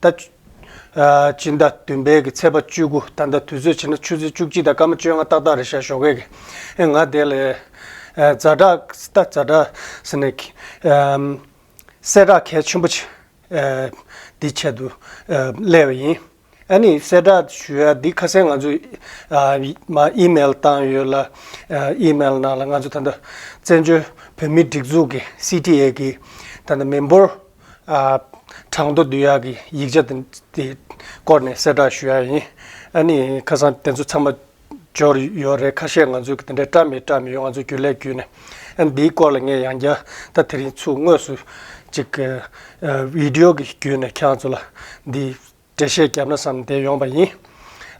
ཟླ་གཅིག་ཟླ་བདུན་པའི་གི་ཚེས་པ་བཅུ་དགུ་ད་ཟླ་དུས་ཚོད་བྱས་ན་ཆུ་ཚོད་བཅུ་གཅིག་དང་སྐར་མ་བཅོ་ལྔ་ཏག་ཏག་རེད་ཤག་ཞོགས་ཀས་ཀྱིས་ང་དེ་ལས། རྫ་བྲག་ཟེ་རྫ་བྲག་ཟེར་ནས་ཀྱིས། གསལ་བྲག་གལ་ཆེན་པོ་ཆེ། འདི་ཆེད་དུ་གླས་པ་ཡིན། ཨ་ནི་གསལ་བྲག་ཞུ་ཡ་འདི་ཁ་གསལ་ང་ཚོས་ཨིམེལ་བཏང་ཡོད་ལ། ཨིམེལ་ནང་ལ་ང་ཚོ་ད་ལྟ་བཙན་བྱོལ་བོད་མིའི་སྒྲིག་འཛུགས་ཀྱི CTA ཀྱི་ད་ལྟ་མི་འབོར། གྲངས་མདོ་བསྡུས་ཡག་གི་ཡིག་ཆ་དེ་སྐོར་ནས་གསལ་བསྒྲགས་ཞུ་ཡག་ཡིན། ཨ་ནི་ཁ་སང་དེ་ཚོ་ཚང་མ་འབྱོར་ཡོད་རེད་ཁ་ཤས་ང་ཚོས་དེ་འདྲའི་བཀྲ་མི་བཀྲ་མི་ཡོད་ང་ཚོ་རྒྱུན་ལས་བརྒྱུད་ནས་ཨ་འདིའི་སྐོར་ལ་ངས་ཡང་བསྐྱར་ད་དེ་རིང་ཚུགས་དངོས་སུ་ཅིག་བིདེའོ་གི་བརྒྱུད་ནས་ཁྱེད་རང་ཚོ་ལ་འདིའི་འགྲེལ་བཤད་བརྒྱབ་ན་བསམ་བསྡད་ཡོང་བ་ཡིན།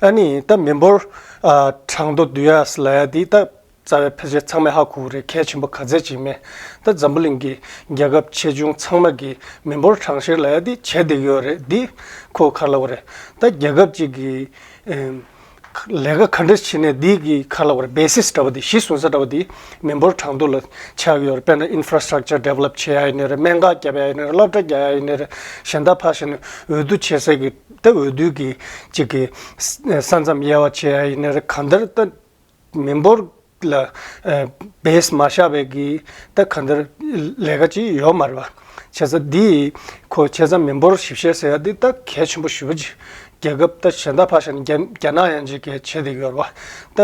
ཨཱ་ནི། ད་མི་འབོར། གྲངས་མདོ་བསྡུ་ཡ་ས་ལ་ཡ་འདི་ད། རྩ་བའི་ཕལ་ཆེར་ཚང་མས་ཧ་གོ་གི་རེད་གལ་ཆེན་པོ་ག་ཚད་ཅིག་མེད། ད་འཛམ་བུ་གླིང་གི་རྒྱལ་ཁབ་ཆེ་ཆུང་ཚང་མ་གི་མི་འབོར་གྲངས་བཤེར་ལ་ཡ་འདི་བྱས་བསྡད་ཀྱི་ཡོད་རེད་འདི། ཁོ་གར་ལ་བ་རེད། ད་རྒྱལ་ཁབ་ཅིག་གི། ལས་ཀ་ག་འདྲ་བྱས་ནས་འདི་གི་ཁ་ལ་བར basis འདྲ་བ་འདི་གཞི་བཟུང་ས་འདྲ་བ་འདི་མི་འབོར་གྲངས་ཐོ་ལ་ཆགས་ཡོད་རེད་དཔེར་ན infrastructure develop བྱེད་ཡ་ཡི་ནི་རེད་སྨན་ཁག་བརྒྱབ་ཡ་ཡི་ནི་རེད་སློབ་གྲྭ་རྒྱག་ཡ་ཡི་ནི་རེད་གཞན་དག་ཕར་ཕྱིན་ནས་འོས་བསྡུ་བྱེད་ས་གི་ཏེ་འོས་བསྡུ་གི་གཅིག་གི་ས་མཚམས་དབྱེ་བ་བྱེད་ཡ་ཡི་ནི་རེད་གང་ལྟར་ཏེ་མི་འབོར་ལ། བས་མ་ཤ་བའི་གི་ད་ག་འདིར་ལས་ཀ་ཅི་ཡོད་མ་རེད་པ། བྱས་ཙང་འདི་ཡི་ཁོ་བྱས་ཙང་མི་འབོར་ཞིབ་བཤེར་ཟེར་ཡ་འདི་ད་གལ་ཆེན་པོ་ཞུ་བ་ཅི། རྒྱལ་ཁབ་ད་གཞན་དག་ཕ་ཤ་ནི་རྒྱ་ནག་ཡང་ཅི་གལ་ཆེ་དེ་ཡོད་རེད་བ། ད་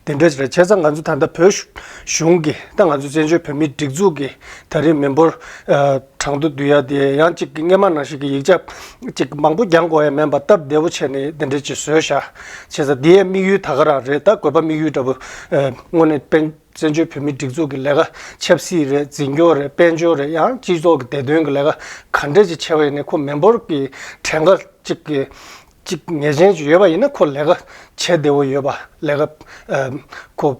དེ་འདྲ་ཅི་རེད་བྱས་ཙང་ང་ཚོ་ད་ལྟ་བོད་གཞུང་གི་ད་ང་ཚོ་བཙན་བྱོལ་བོད་མིའི་སྒྲིག་འཛུགས་ཀྱི་ད་རིང་མི་འབོར། བྲང་དུ་བསྡུ་ཡ་དེ་ཡང་གཅིག་གིས་སྔས་མ་ན་ཞིག་གི་ཡིག་ཆ་གཅིག་མང་པོ་རྒྱང་གོ་ཡ་མེད་པ་སྟབས་བདེ་བོ་བྱས་ནས་དེ་འདྲས་ཀྱིས་བཟོས་ཤག་བྱས་ས་དེའི་དམིགས་ཡུལ་ད་ག་རང་རེད་ད་གོས་པ་དམིགས་ཡུལ་འདྲ་བོ། དངོས་ནས་བན་བཙན་བྱོལ་བོད་མིའི་སྒྲིག་འཛུགས་ཀྱི་ལས་ཀ་ཆབ་སྲིད་རེད་འཛིན་སྐྱོང་རེད་དཔལ་འབྱོར་རེད་ཡང་སྤྱི་ཚོགས་ཀྱི་བདེ་དོན་གྱི་ལས་ཀ་ག་འདྲས་ཀྱིས་བྱས་པ་ཡིན་ནས་ཁོ་མི་འབོར་གྱི་གྲས་འགའ་གཅིག་གི་གཅིག་ངེས་ཅན་གྱི་ཡོད་པ་ཡིན་ན་ཁོ་ལས་ཀ་བྱས་བདེ་བོ་ཡོད་པ་ལས་ཀ་ཁོ།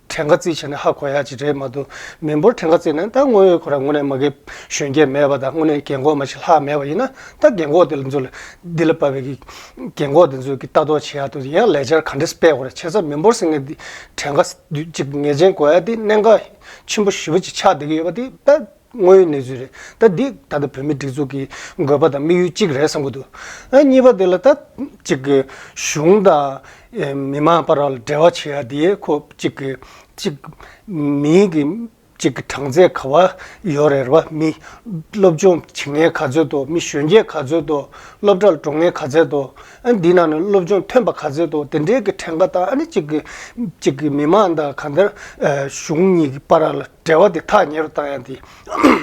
ཕྲན་ག་རྩིས་བྱས་ན་ཧ་གོ་ཡག་ཅིག་རེད་མ་གཏོགས་མི་འབོར་ཕྲན་ག་རྩིས་ན་ད་དངོས་ཡོད་ཁོ་ར་ངོ་ནས་མ་གི་གཞོན་སྐྱེས་མེད་པ་དང་དངོས་ནས་གྱེན་འགོག་མ་ཞིག་ལྷག་མེད་པ་ཡིན་ན་ད་གྱེན་འགོག་དེ་ལ་འཛུལ་འདི་ལ་བབས་པའི་གི་གྱེན་འགོག་དེ་འཛུལ་གི་ལྟ་རྟོག་བྱེད་ཡག་ཏུ་ཡང་ལས་འཆར་ག་འདྲས་སྤེལ་གོ་ར་བྱས་ཚར་མི་འབོར་སེང་ངེ་འདི་ཕྲན་ག་རྩིས་དུས་གཅིག་ངེས་ཅན་གོ་ཡག་དེ་གནད་འགག་ཆེན་པོ་བཞི་པོ་ཅིག་ཆགས་བསྡད་གི་ཡོད་པ་དེ་ད། དངོས་ཡོད་གནས་ཚུལ་རེད། ད་འདི་ད་ལྟ་བོད་མིའི་སྒྲིག་འཛུགས་ཀྱི་དགོས་པ་དང་དམིགས་ཡུལ་གཅིག་རེད་བསམ་གྱི་འདུག་ཨ་གཉིས་པ་དེ་ལ་ད་ཅིག་གི་གཞུང་དང། མི་མང་བར་ལ་འབྲེལ་བ་བྱེད་ཡ་དེ་ཁོ་ཅིག་གི་ཅིག། མིའི་གི་ཅིག་གི་གྲངས་ཚད་ག་བ་ཡོད་རེད་ར་བ་མི། སློབ་སྦྱོང་བྱེད་མཁན་ག་ཚོད་དོ་མི་གཞོན་སྐྱེས་ག་ཚོད་དོ། སློབ་གྲྭར་འགྲོ་མཁན་ག་ཚད་དོ། ཨ་འདི་ནང་ནས་སློབ་སྦྱོང་ཐོན་པ་ག་ཚད་དོ་དེ་འདྲའི་གི་ཕྲན་ག་དང་ཨ་ནི་ཅིག་གི་ཅིག་གི་མི་མང་དང་ག་འདྲ། གཞུང་གཉིས་ཀྱི་བར་ལ། འབྲེལ་བ་དེ་ཐག་ཉེ་རུ་བཏང་ཡང་དེ།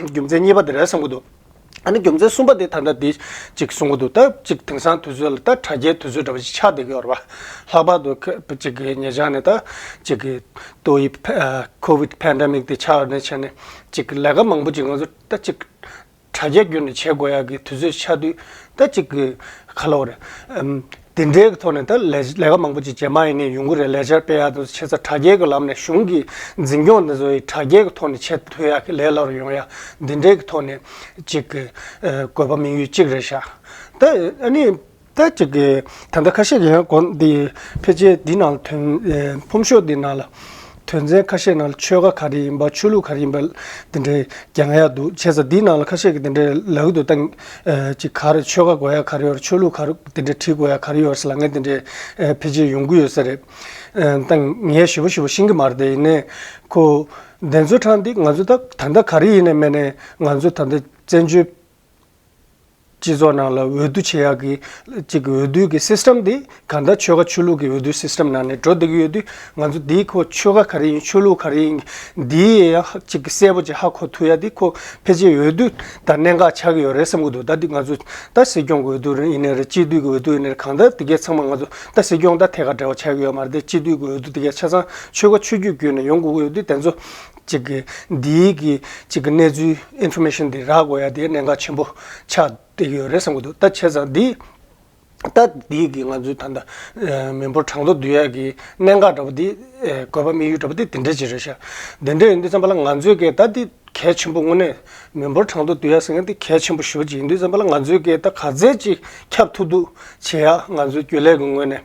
རྒྱུ་མཚན་གཉིས་པ་དེ་རེད་བསམ་གྱི་འདུག་ཨ་ནི་རྒྱུ་མཚན་གསུམ་པ་དེ་ད་ལྟ་དེ། ཅིག་གསུང་གི་འདུག་ད་ཅིག་དེང་སང་དུས་ཚོད་ལ་ད་དྲ་རྒྱའི་དུས་ཚོད་འདྲ་བ་ཞིག་ཆགས་བསྡད་ཀྱི་ཡོད་རེད་པ། ལྷག་པར་དུ། ཅིག་གི་ཉེ་ཆར་ནས་ད། ཅིག་གི། ཏོག་དབྱིབས། COVID Pandemic དེ་ཆགས་ནས་ཆད་ནས། ཅིག་གི་ལས་ཀ་མང་པོ་ཅིག་ང་ཚོ་ད་ཅིག། དྲ་རྒྱ་བརྒྱུད་ནས་བྱེད་དགོས་ཡག་གི་དུས་ཚོད་ཆ་དུས་ད་གཅིག་གི་ཁ་ལོ་རེད། དེ་འདྲའི་ཐོག་ནས་ད་ལས་ཀ་མང་པོ་ཅིག་བྱེད་མ་ཡིན་ནས་ཡོང་གི་རེད་ལས་འཆར་སྤེལ་ཡག་དང་ཆེ་ས་དྲ་རྒྱའི་གི་ལམ་ནས་གཞུང་གི་འཛིན་སྐྱོང་དེ་ཚོ་ཡི་དྲ་རྒྱའི་གི་ཐོག་ནས་བྱེད་ཐུབ་ཡག་གི་ལས་སླ་རུ་ཡོང་ཡག་འདི་འདྲའི་གི་ཐོག་ནས་ཅིག་གི་དགོས་པ་མིང་ཡུལ་གཅིག་རེད་ཤག་ད་ཨ་ནི། ལྟར་བྱེད་དགོས། ད་ལྟ་ཁ་ཤས་ཀྱིས་ཡང་གོང་དེ་ཕལ་ཆེར་འདི་ནང་ལ་དོན། ཕོམ་ཤོག་འདི་ནང་ལ། དོན་ཚན་ཁ་ཤས་ནང་ལ་ཆོལ་ཁ་ག་རེ་ཡིན་པ་ཆོས་ལུགས་ག་རེ་ཡིན་པ་དེ་འདྲའི་རྒྱ་ཡག་འདུག་བྱས་ཙང་འདི་ནང་ལ་ཁ་ཤས་ཀྱིས་དེ་འདྲའི་ལག་ཏུ་བཏང། གཅིག་ག་རེ་ཆོལ་ཁ་གོ་ཡ་ག་རེ་ཡོད་རེད་ཆོས་ལུགས་ག་རེ་དེ་འདྲའི་བྲིས་དགོས་ཡ་ག་རེ་ཡོད་རེད་ལ་ངས་དེ་འདྲའི་ཕལ་ཆེར་ཡོང་གི་ཡོད་ས་རེད། བཏང། ངས་ཞིབ་པོ་ཞིབ་པོ་ཤེས་ཀྱི་མ་རེད་དེ་ཡིན་ནའི། ཁོ། བདེན་རྫུན་དྲང་འདི་ང་ཚོ་ད་ད་ལྟ་ག་རེ་ཡིན་ནའི་སྨན་ནའི་ང་ཚོ་ད་ལྟ་བཙན་བྱོལ། སྤྱི་ཚོགས་ནང་ལ་འོས་བསྡུ་བྱེད་ཡག་གི། གཅིག་འོས་བསྡུ་གི System དེ་ག་ལྟར་ཆོལ་ཁ་ཆོས་ལུགས་ཀྱི་འོས་བསྡུ System ནང་ནས་འགྲོ་བསྡད་ཀྱི་ཡོད་དུས་ང་ཚོ་དེའི་ཁོ་ཆོལ་ཁ་ག་རེ་ཡིན་ཆོས་ལུགས་ག་རེ་ཡིན་དེའི་ཡང་གཅིག་གསལ་པོ་ཅིག་ཧ་གོ་ཐུབ་ཡག་དེ་ཁོ་ཕལ་ཆེར་འོས་བསྡུ་དང་གནད་འགག་ཆགས་ཀྱི་ཡོད་རེད་བསམ་གྱི་འདུག་ད་དེ་ང་ཚོ་ད་སྲིད་སྐྱོང་གི་འོས་བསྡུ་ཡིན་ནི་རེད་སྤྱི་འཐུས་ཀྱི་འོས་བསྡུ་ཡིན་ནི་རེད་གང་ལྟར་དེ་གའི་ཚང་མ་ང་ཚོ་ད་སྲིད་སྐྱོང་ད་ཐད་ཀ་འདྲ་བ་ཆགས་ཀྱི་ཡོད་མ་རེད་དེ་སྤྱི་འཐུས་ཀྱི་འོས་བསྡུ་དེ་གའི་ཆ་ཚང་ཆོལ་ཁ་ཆོས་བརྒྱུད་བརྒྱུད་ནས་ཡོང་དགོས་ཀྱི་ཡོད་དུས་དེ་ཚོ་གཅིག་གི། འདིའི་གི། གཅིག་གི་གནས་ཚུལ། Information། འདི་རགས་དགོས་ཡ་དེ་གནད་འགག་ཆེན་པོ། ཆགས་དེ་ཡོད་རེད་བསམ་གི་འདུག་ད་བྱས་ཙང་འདི། ད་འདིའི་གི་ང་ཚོའི་ད་ལྟ། མི་འབོར་གྲངས་ཐོ་འདུས་ཡ་གི་གནད་འགག་འདྲ་པོ་དེ། བཀོད་པ་དམིགས་ཡུལ་འདྲ་པོ་དེ་དེ་འདྲ་ཅིག་རེད་ཤག། དེ་འདྲ་ཡིན་དུས་བསམ་པ་ལ་ང་ཚོའི་སྐད་ད་འདི་གལ་ཆེན་པོ་དངོས་གནས། མི་འབོར་གྲངས་ཐོ་འདུས་ཡ་ཟེར་མཁན་དེ་གལ་ཆེན་པོ་ཞོ་གཅིག་ཡིན་དུས་བསམ་པ་ལ་ང་ཚོའི་སྐད་ད་ག་ཚད་ཅིག་ཁྱབ་ཐུབ་ཐུབ། བྱས་ཡ་ང་ཚོའི་རྒྱུན་ལས་ཀི་ངོས་ནས།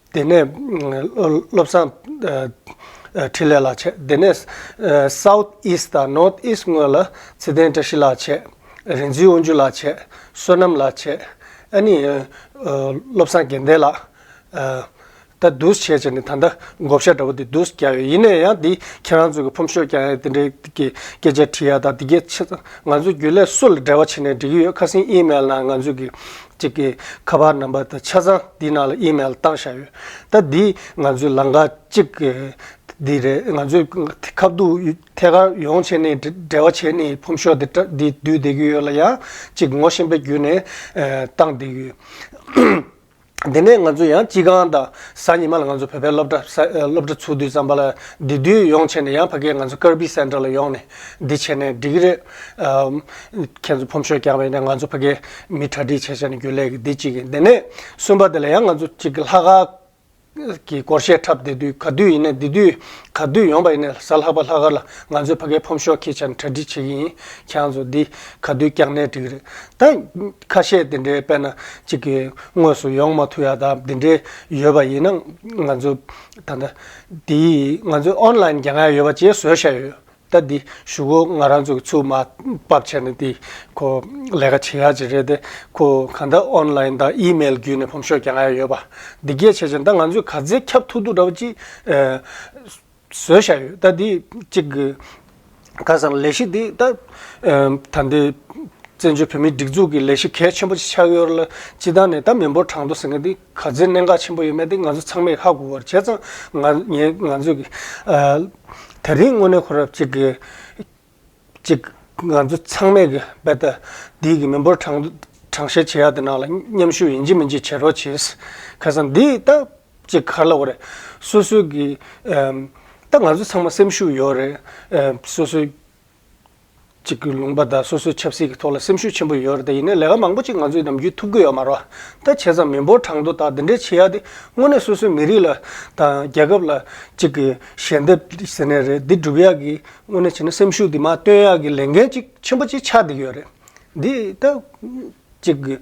དེ་ནས་བློ་བཟང། འཕྲིན་ལས་ལགས་བྱས། དེ་ནས South East དང North East དངོས་ལ་ཚེ་བརྟན་བཀྲ་ཤིས་ལགས་བྱས། རིན་འཛིན་དབང་ཕྱུག་ལགས་བྱས། བསོད་ནམས་ལགས་བྱས། ཨ་ནི། བློ་བཟང་རྒན་བསྟན་ལགས། ད་བསྡུས་བྱས་བྱས་ནས་ད་ལྟ་བགོ་བཤའ་འདྲ་བོ་དེ་བསྡུས་རྒྱག་ཡོད་ཡིན་ན་ཡང་དེ་ཁྱེད་རང་ཚོ་གི་ཕོམ་ཤོག་རྐྱང་ཡང་དེ་འདྲའི་གི་སྐད་ཆ་དྲི་ཡ་དང་དེ་གས་ཆེ་ད་ང་ཚོ་རྒྱུན་ལས་སུ་ལ་འབྲེལ་བ་བྱས་ནས་འདྲི་གི་ཡོད་ཁ་སིང་ཨི་མལ་ནང་ང་ཚོ་གི་ཅིག་གིས་ཁ་པར་རྣམ་པ་དང་ཆ་ཚང་འདིའི་ནང་ལ་ཨིམེལ་བཏང་བཞག་ཡོད། ད་འདིས་ང་ཚོའི་ལང་ཀ་གཅིག་གི། འདི་རེད་ང་ཚོས་ཁ་བསྡུར་ཐད་ཀར་ཡོང་བྱས་ནས་འབྲེལ་བ་བྱས་ནས་ཕོམ་ཤོག་དེ་དྲ་འདིས་བསྡུས་བསྡད་ཀྱི་ཡོད་ལ་ཡང་ཅིག་ངོ་ཤེས་པའི་བརྒྱུད་ནས་བཏང་བསྡད་ཀྱི་ཡོད། དེ་ནས་ང་ཚོ་ཡང་སྤྱི་ཁང་དང་གཟའ་ཉི་མ་ལ་ང་ཚོ་བོད་པའི་སློབ་གྲྭ་ཚུགས་དུས་ཙམ་པ་ལ་འདི་བསྡུས་ཡོང་བྱས་ནས་ཡང་ཕ་སྐད་ང་ཚོ་ཀར་བྷི་སེན་ཏར་ལ་ཡོང་ནས། འདི་བྱས་ནས་འགྲིག་གི་རེད། ཁྱེད་ཚོ་ཕོམ་ཤོས་རྐྱང་བས་ནས་ང་ཚོ་ཕ་གི་མི་གྲ་སྒྲིག་བྱས་བྱས་ནས་རྒྱུ་ལས་ཀྱི་འདི་གཅིག་གི་འདི་ནས་གསུམ་པ་དེ་ལ་ཡང་ང་ཚོ་གཅིག་གི་ལྷག་དཀར་གི་སྐོར་བཤད་འཁྲབ་བསྡད་དུས་ག་དུས་ཡིན་ནས་འདི་དུས་ག་དུས་ཡོང་པ་ཡིན་ནས་གཟའ་ལྷག་པ་ལྷག་དཀར་ལ་ང་ཚོའི་ཕ་གའི་ཕོམ་ཤོས་ཁྱེད་ཅག་ནས་གྲ་སྒྲིག་བྱེད་ཀྱི་ཡིན་ཁྱེད་ཚོ་འདི་ག་དུས་རྐྱང་ནས་འགྲིག་གི་རེད་ད། ཁ་བཤད་དེ་འདྲའི་དཔེ་ན་གཅིག་གི་དངོས་སུ་ཡོང་མ་ཐུབ་ཡ་ད་འདི་འདྲའི་ཡོད་པ་ཡིན་ན་ང་ཚོ་ད་ལྟ། དེ་ཡིས་ང་ཚོའི་ཨོན་ལཱེན་རྒྱ་སྔགས་ཡོད་པ་བཅས་བཟོས་བཞག་ཡོད། ད་འདི་ཞུ་གོ་ང་རང་ཚོ་གི་ཚུགས་མ་བབས་ཆད་ནས་འདི་ཁོ་ལས་ཀ་བྱེད་ཡག་ཅིག་རེད་དེ་ཁོ་གང་འདྲ་ཨོན་ལཱེན་དང་ཨི་མེལ་བརྒྱུད་ནས་བོམ་ཤོག་རྒྱ་སྔགས་ཡོད་པ་འདི་སྐད་བྱས་ཅིང་ད་ང་ཚོས་ག་ཚད་ཁྱབ་ཐུག་ཐུག་འདྲ་བོ་ཅིག་བཟོས་བཞག་ཡོད་ད་འདི་གཅིག་གི་ཁ་སང་ལས་གཞི་འདི་ད། ད་འདི་བཙན་བྱོལ་བོད་མིའི་སྒྲིག་འཛུགས་ཀྱི་ལས་གཞི་གལ་ཆེན་པོ་ཅིག་ཆགས་ཡོད་ར་ལ་སྤྱི་བཏང་ནས་ད་མི་འབོར་གྲངས་ཐོ་ཟེར་མཁན་འདི། ག་ཚོད་གནད་འགག་ཆེན་པོ་ཡོད་མེད་དེ་ང་ཚོ་ཚང་མས་ཧ་གོ་བར་བྱས་ཙང། ང་ངས་ང་ཚོས་ཀྱི། ད་རིང་དངོས་གནས་ཁོ་རབས་ཅིག་གིས། ཅིག། ང་ཚོ་ཚང་མས་ཀྱི་རྦད་དེ། འདིའི་ཀྱི་མི་འབོར་གྲངས། གྲངས་བཤེར་བྱེད་ཡག་དེ་ནང་ལ་མཉམ་ཞུགས་ཡིན་གྱི་མིན་གྱི་བྱེད་རོགས་བྱེད། ཁ་སང་འདི་ད། ཅིག་ག་ལ་བ་རེད། སོ་སོའི་ཀྱི། ད་ང་ཚོ་ཚང་མ་སེམས་ཤུགས་ཡོད་རེད། སོ་སོའི། གཅིག་གི་ལུང་པ་དང་སོ་སོའི་ཆབ་སྲིད་ཀྱི་ཐོག་ལ་སེམས་ཤུགས་ཆེན་པོ་ཡོད་རེད་དེ་ཡིན་ནའི་ལས་ཀ་མང་པོ་ཅིག་ང་ཚོས་ནམ་རྒྱུན་ཐུབ་ཀྱི་ཡོད་མ་རོ། ད་བྱས་ཙང་མི་འབོར་གྲངས་ཐོ་དག་འདི་འདྲའི་ཆེ་ཡག་འདི་དངོས་གནས་སོ་སོའི་མི་རིགས་ལ་དང་རྒྱལ་ཁབ་ལ་གཅིག་གི་ཞལ་འདེབས་ཟེར་ནའི་རེད་འདི་སྒྲུབ་ཡག་གི་དངོས་གནས་བྱས་ན་སེམས་ཤུགས་འདི་མ་བཏོན་ཡག་གི་ལས་འགན་ཅིག་ཆེན་པོ་ཅིག་ཆགས་འདི་ཡོད་རེད་འདི་ད། ཅིག་དགོས།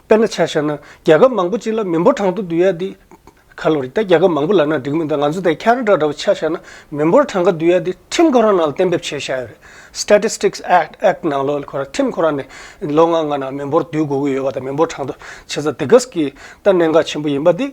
དཔེར་ན་ཆ་ཤར་ན། རྒྱལ་ཁབ་མང་པོ་གཅིག་ལ་མི་འབོར་གྲངས་ཐོ་འདུས་ཡ་དེ། ཁ་ལོ་རེད་ད་རྒྱལ་ཁབ་མང་པོ་ལ་ན་འགྲིག་མི་འདུག་ང་ཚོ་དེ་ཁྱེད་རང་འདྲ་འདྲ་བོ་ཆ་ཤར་ན་མི་འབོར་གྲངས་ཀ་འདུས་ཡ་དེ་ཁྲིམས་ཁོ་རང་ནང་ལ་གཏན་འབེབས་བྱས་ཤར་ཡོད་རེད། Statistics Act ནང་ལོ་ཁོ་རང་ཁྲིམས་ཁོ་རང་ནས་ལོ་ལྔ་ལྔ་ནང་མི་འབོར་འདུས་དགོས་ཀྱི་ཡོད་པ་དང་མི་འབོར་གྲངས་ཐོ་ཆེ་ས་དེ་གཟི་ཀིས་ད་གནད་འགག་ཆེན་པོ་ཡིན་པ་དེ།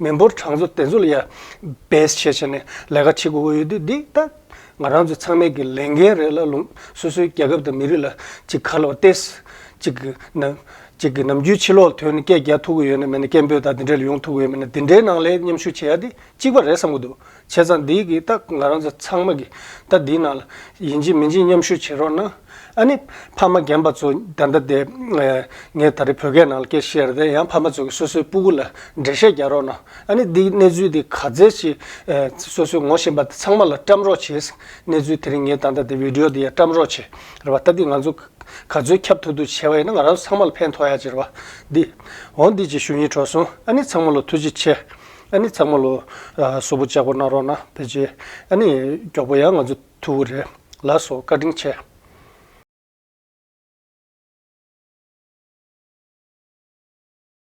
མི་འབོར་གྲངས་འཛུགས་དེ་ཚོ་ལ་ཡང་བེད་སྤྱད་བྱས་ནས་ལས་ཀ་བྱེད་དགོས་ཀྱི་ཡོད་དུས་འདི་ལྟ། ང་རང་ཚོ་ཚང་མས་ཀྱི་ལས་འགན་རེད་ལ་ལུང་སོ་སོའི་རྒྱལ་ཁབ་དང་མི་རིགས་ལ་ཅིག་ག་ལ་བ་ཏེ། ཅིག་གི་ནམ་ཅིག་གི་ནམ་རྒྱུན་ཕྱི་ལོག་དོན་ནི་སྐད་རྒྱག་ཐུབ་ཀྱི་ཡོད་ནི་མེད་ནི་སྐད་འབོད་དང་དེ་འདྲས་ལ་ཡོང་ཐུབ་ཀྱི་ཡོད་མེད་ནི་འདི་འདྲའི་ནང་ལས་མཉམ་ཞུགས་བྱེད་ཡ་དེ་གཅིག་པ་རེད་བསམ་གྱི་འདུག་བྱས་ཙང་འདི་གི་ད་ང་རང་ཚོ་ཚང་མ་གི་ད་འདི་ནང་ལ་ཡིན་གཅིག་མིན་གཅིག་མཉམ་ཞུགས་བྱེད་རོགས་གནང། ཨ་ནི་ཕ་མ་རྒན་པ་ཚོ་ད་ལྟ་དེ། ངས་ད་རེ་བོད་སྐད་ནང་ལ་སྐད་བཤད་རེ་ད་ཡང་ཕ་མ་ཚོ་གི་སོ་སོའི་སྤུ་གུ་ལ་འགྲེལ་བཤད་རྒྱག་རོགས་གནང། ཨ་ནི་འདི་གི་གནས་ཚུལ་དེ་ག་ཚད་ཅིག་སོ་སོའི་ངོ་ཤེས་པ་དེ་ཚང་མ་ལ་བཀྲམ་རོགས་བྱེད། གནས་ཚུལ་དེ་རིང་ངས་ད་ལྟ་དེ Video དེ་ཡང་བཀྲམ་རོགས་བྱེད་རེ་བ་ད་འདི་ང་ཚོ་ག་ཚོད་ཁྱབ་ཐུབ་ཐུབ་བྱས་པ་ཡིན་ན་ང་རང་ཚོ་ཚང་མ་ལ་ཕན་ཐོགས་ཡག་བྱེད་རེ་བ་འདི། འོ་འདི་ཅིག་ཞུ་ཡིན་གྲོགས་སོང་ཨ་ནི་ཚང་མ་ལ་ཐུགས་རྗེ་ཆེ། ཨ་ནི་ཚང་མ་ལོ། བཟོ་བོ་ལྕགས་པོ་གནང་རོགས་གནང་དེ་རྗེས། ཨ་ནི། མགྱོགས་པོ་ཡང་ང་ཚོ་ཐུ་བོ་རེད། ལ་སོགས་བཀའ་དྲིན་ཆེ།